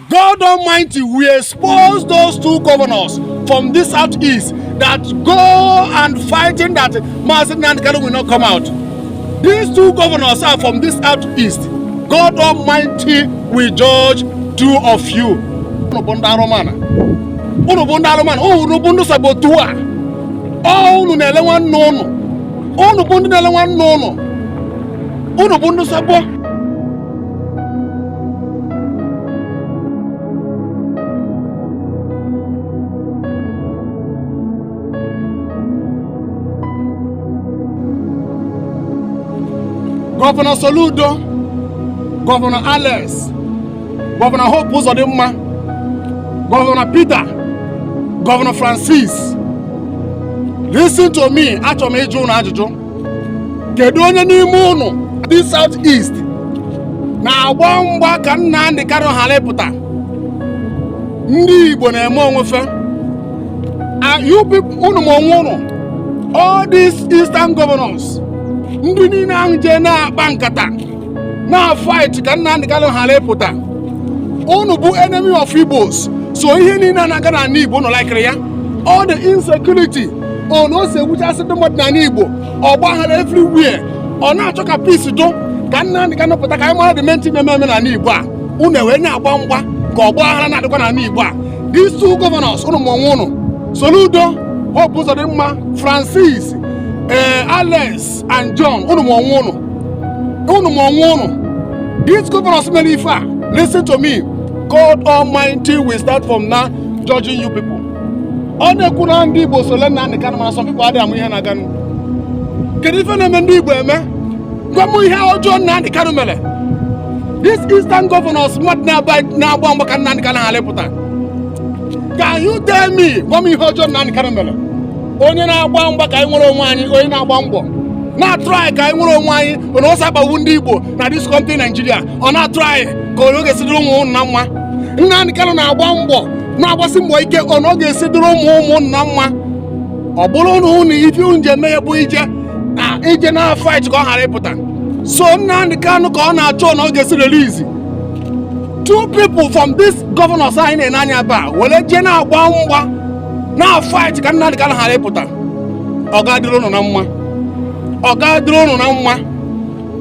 God Almighty will expose those two governors from this southeast that go and fighting that Mazi Nnamdi Kanu will not come out. These two governors are from this southeast. God Almighty will judge two of you. Unu bụ ndị arụmana. Unu bụ ndị arụmana. Unu bụ ndị saboteur. Ọ unu na-ele nwanne unu. Unu bụ ndị na-ele nwanne unu. Unu bụ ndị sabo. gọvanọ soludo gọvanọ alex gọvanọ hope ụzọdịmma gọvanọ peter gọvanọ francis listen to me achọrọ m ịjụ ụnụ ajụjụ kedu onye n'ime ụnụ this South East na-agba mgba ka Nnamdi Kanu ghara ịpụta ndị Igbo na-eme onwe fa unu ma onwe ụnụ all these eastern governors ndị niine ahụ jee na-akpa nkata na-fight ka Nnamdi Kanu ghara ịpụta unu bụ enemy of Igbos so ihe niine na-aga n'anị Igbo unu likere ya all the insecurity ọ na o si ewuchasị ndị mmadụ n'ala Igbo ọgba aghara everywhere ọ na-achọ ka peace dụ ka Nnamdi Kanu pụta ka anyị mara the main thing na-eme eme n'ala Igbo a unu ewee na-agba mgba ka ọgba aghara na-adịkwa n'ala Igbo a these two governors ụnụ ma onwe ụnụ Soludo Hope Uzodimma Francis ee eh, Alex and John ụnụ ma onwe ụnụ ụnụ ma onwe ụnụ these governors mere ife a listen to me God Almighty will start from now judging you people ọ na-ekwu na ndị Igbo sole Nnamdi Kanu mana some people adịghị ama ihe na-aga kedu ife na-eme ndị Igbo eme gwa m ihe ọjọọ Nnamdi Kanu mere this eastern governors mmadụ na-agba mgba ka Nnamdi Kanu ghara ịpụta can you tell me gwa m ihe ọjọọ Nnamdi Kanu mere onye na-agba mgba ka anyị nwere onwe anyị onye na-agba mbọ na-atry ka anyị nwere onwe anyị na o si akpagbu ndị Igbo na this country Nigeria ọ na-atry ka ọ ga-esi dịrị ụmụ na mma Nnamdi Kanu na-agba mbọ na-agbasi mbọ ike ọ na ọ ga-esi dịrị ụmụ ụmụ na mma ọ bụrụ na ụnụ ife unu je mee bụ ije na ije na fight ka ọ ghara ịpụta so Nnamdi Kanu ka ọ na-achọ na ọ ga-esi release two people from this governors anyị na-ene anya ebe a were jee na-agba mgba na fight ka Nnamdi Kanu ghara ịpụta ọ ga-adịrị ụnụ na mma ọ ga-adịrị ụnụ na mma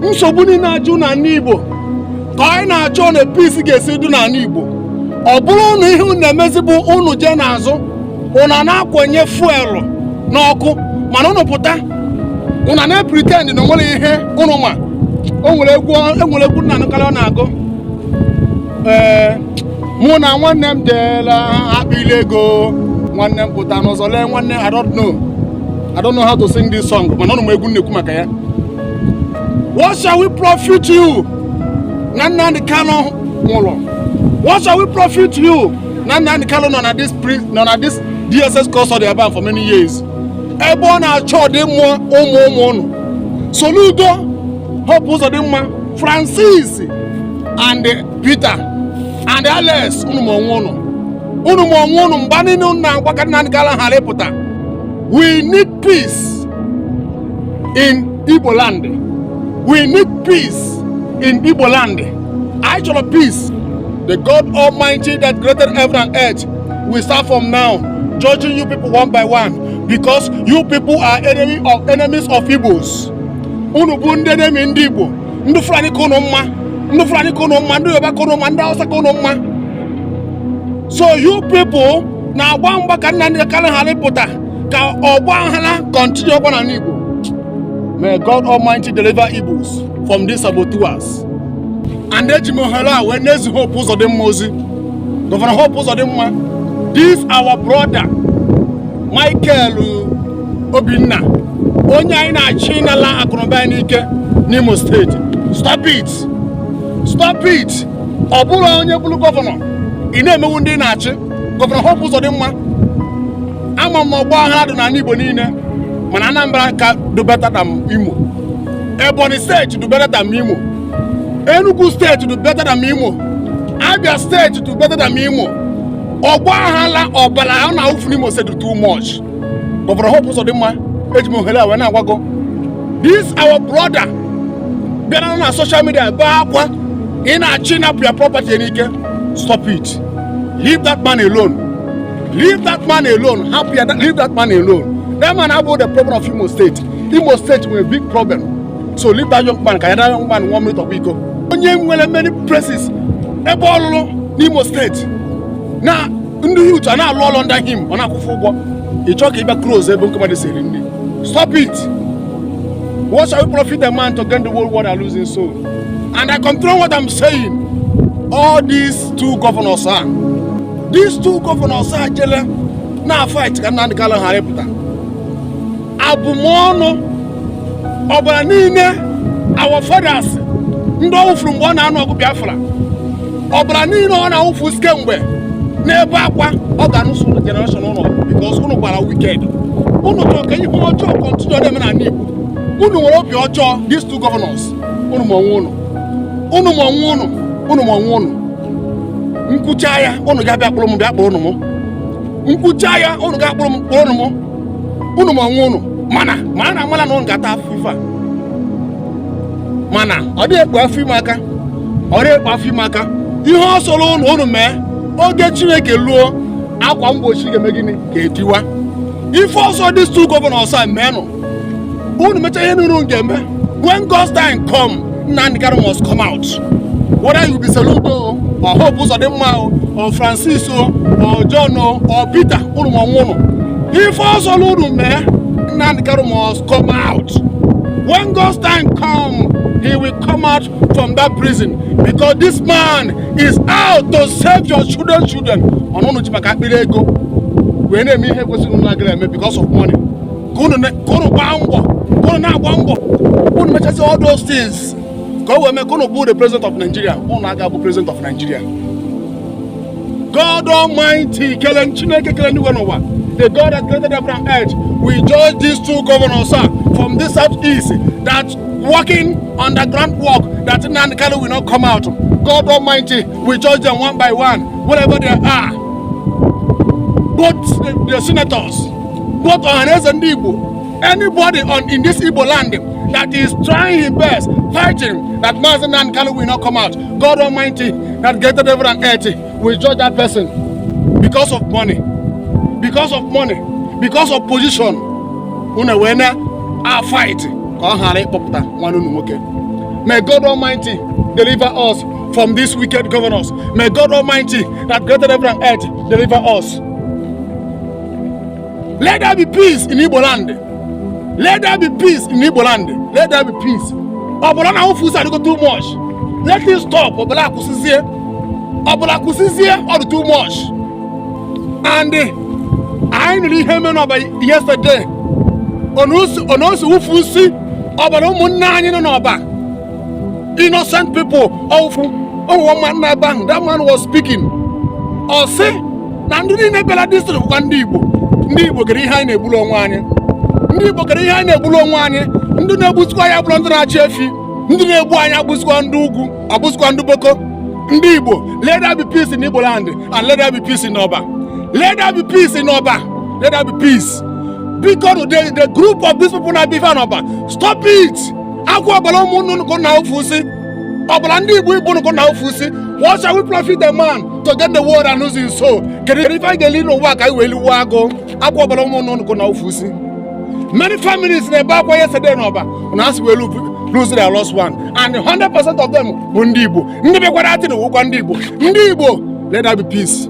nsogbu niine a ju n'anị Igbo ka anyị na-achọ na peace ga-esi dị n'anị Igbo ọ bụrụ na ihe unu na-emezi bụ unu jee n'azụ unu na-akwanye fuelu n'ọkụ mana unu pụta unu na-pretend na o nwere ihe unu ma o nwere egwu e nwere egwu m na-anụkarị ọ na-agụ ee mụ na nwanne m deela akpịlị ego nwanne m pụta n'ụzọ lee nwanne I don't know I don't know how to sing this song mana unu ma egwu m na-ekwu maka ya What shall we profit you? Na Nnamdi Kanu nwụrụ. What shall we profit you? Na Nnamdi Kanu nọ na this nọ na this DSS custody ebe for many years. Ebe ọ na-achọ ọdịmma ụmụ ụmụ ụnụ. Soludo, Hope Uzodimma, Francis and Peter and Alex unu ma onwe ụnụ. Unu ma onwe ụnụ mgba niile unu na-agba ka Nnamdi Kanu ghara ịpụta. We need peace in Igbo land. We need peace in Igbo land. I chọrọ peace. The God Almighty that created heaven and earth will start from now judging you people one by one because you people are enemy of enemies of Igbos. Unu bụ ndị enemy ndị Igbo, ndị Fulani ka unu mma, ndị Fulani ka unu mma, ndị Yoruba ka unu mma, ndị Hausa ka unu mma. So you people na-agba mgba ka Nnamdi Kanu ghara ịpụta ka ọgba aghara continue ọkwa n'ala Igbo may God Almighty deliver Igbos from these saboteurs and eji m ohere a wee na-ezi Hope Uzodimma ozi gọvanọ Hope Uzodimma this our brother Michael Obinna onye a ị na-achọ ịnala akụnụba ya n'ike n'Imo steeti stop it stop it ọ bụrụ onye bụrụ gọvanọ ị na-emewu ndị ị na-achị gọvanọ Hope Uzodimma ama m ọgba aghara dị n'ala Igbo niile mana Anambra ka dụ better than Imo Ebonyi steeti dụ better than Imo Enugu steeti dụ better than Imo Abia steeti dụ better than Imo ọgba aghara ọbara a na-awụfu n'Imo steeti too much gọvanọ Hope Uzodimma eji m ohere a wee na-agwa gụ this our brother bịara na social media bee akwa ị na-achọ ịnapụ ya property n'ike stop it leave that man alone Leave that man alone. Hapụ that, leave that man alone. That man abụrọ the problem of Imo State. Imo State nwere big problem. So leave that young man. Can that young man one minute of ego? Onye nwere many places. Ebe ọ lụlụ n'Imo State. Na ndị youth a na-alụ ọlụ under him. Ọ na-akwụ fa ụgwọ. Ị chọọ ka ị bịa close ebe ndị mmadụ si eri nri. Stop it. What shall we profit a man to gain the whole world and lose his soul? And I continue what I'm saying. All these two governors are. these two governors a jele na fight ka Nnamdi Kanu ghara ịpụta abụmọnụ ọbara niile our fathers ndị ọ wụfuru mgbe ọ na-anụ ọgụ Biafra ọbara niile ọ na-awụfu kemgbe na-ebe akwa ọ ga-anụsụ ụnụ generation ụnụ because ụnụ gbara wicked ụnụ chọrọ ka ihe ọjọọ continue na-eme n'ala Igbo ụnụ nwere obi ọjọọ these two governors ụnụ ma onwe ụnụ ụnụ ma onwe ụnụ ụnụ ma onwe ụnụ m kwuchaa ya ụnụ ga-abịa kpụrụ m bịa kpụrụnụ m m kwuchaa ya ụnụ ga-akpụrụ m kpụrụnụ m ụnụ ma onwe ụnụ mana ma a na-amala na ụnụ ga-ata afụfụ ya mana ọ dịghị ekpu afọ ime aka ọ dịghị ekpu afọ ime aka ihe ọ sọrọ ụnụ ụnụ mee oge chineke luo akwa mgbochi ga-eme gịnị ga-etiwa ife ọ sọ these two governors a meenụ unu mecha ihe niile unu ga-eme when God's time come Nnamdi Kanu must come out whether you be Soludo o or Hope Uzodinma o or Francis o or John o or Peter unu ma onwe unu ife ọ sọlụ unu mee Nnamdi Kanu must come out when God's time come he will come out from that prison because this man is out to save your children children ọ unu ji maka akpịrị ego wee na-eme ihe kwesịrị unu na-agara eme because of money ka unu gbaa mbọ ka unu na-agba mbọ unu mechazi all those things ka o wee mee ka unu bụ the president of Nigeria unu aga abụ president of Nigeria God Almighty kele Chineke kele enuigwe na ụwa the God that created heaven and earth will judge these two governors a from this south east that working underground work that Nnamdi Kanu will not come out God Almighty will judge them one by one wherever they are both the, the senators Both Ohaneze ndị Igbo, anybody on in this Igbo land that is trying his best, fighting that Mazi Nnamdi Kanu will not come out, God Almighty that created heaven and earth will judge that person because of money, because of money, because of position. Unu wee na a fight ka ọ ghara ịkpọpụta nwanne unu nwoke. May God Almighty deliver us from these wicked governors. May God Almighty that created heaven and earth deliver us. Let there be peace in Igbo land. Let there be peace in Igbo land. Let there be peace. Ọbara na-awụfusị adịgo too much. Let it stop. Ọbara kwụsịzie. Ọbara kwụsịzie ọ dị too much. And eh, anyị nụrụ ihe mere n'Oba yesterday. Onosi wụfusị ọbara ụmụnna anyị nọ n'Oba. innocent people ofu, one, one man n'ebe ahụ that man was speaking ọ sị na ndị niile bịara district bụkwa ndị Igbo ndị Igbo kedu ihe anyị na-egburu onwe anyị ndị Igbo kedu ihe anyị na-egburu onwe anyị ndị na-egbuzikwa anyị abụrọ ndị na-achị efi ndị na-egbu anyị abụzikwa ndị ugwu abụzikwa ndị boko ndị Igbo let there be peace in Igbo land and let there be peace in Oba let there be peace in Oba let there be peace because the the group of these people na-eme ife a n'Oba stop it. ọ kwa ọbara ụmụnne unu ka unu na-awụfusị ọbara ndị igbo ibe unu ka unu na-awụfusị what shall we profit a man to gain the world and lose his soul kedu ife anyị ga-eli n'ụwa ka anyị wee liwe agụ ọ kwa ọbara ụmụnne unu ka unu na-awụfusị many families na-ebe akwa yesterday na ọba na asị wee lose their lost one and 100% of them bụ ndị igbo ndị bịakwara that thing wụkwa ndị igbo ndị igbo let there be peace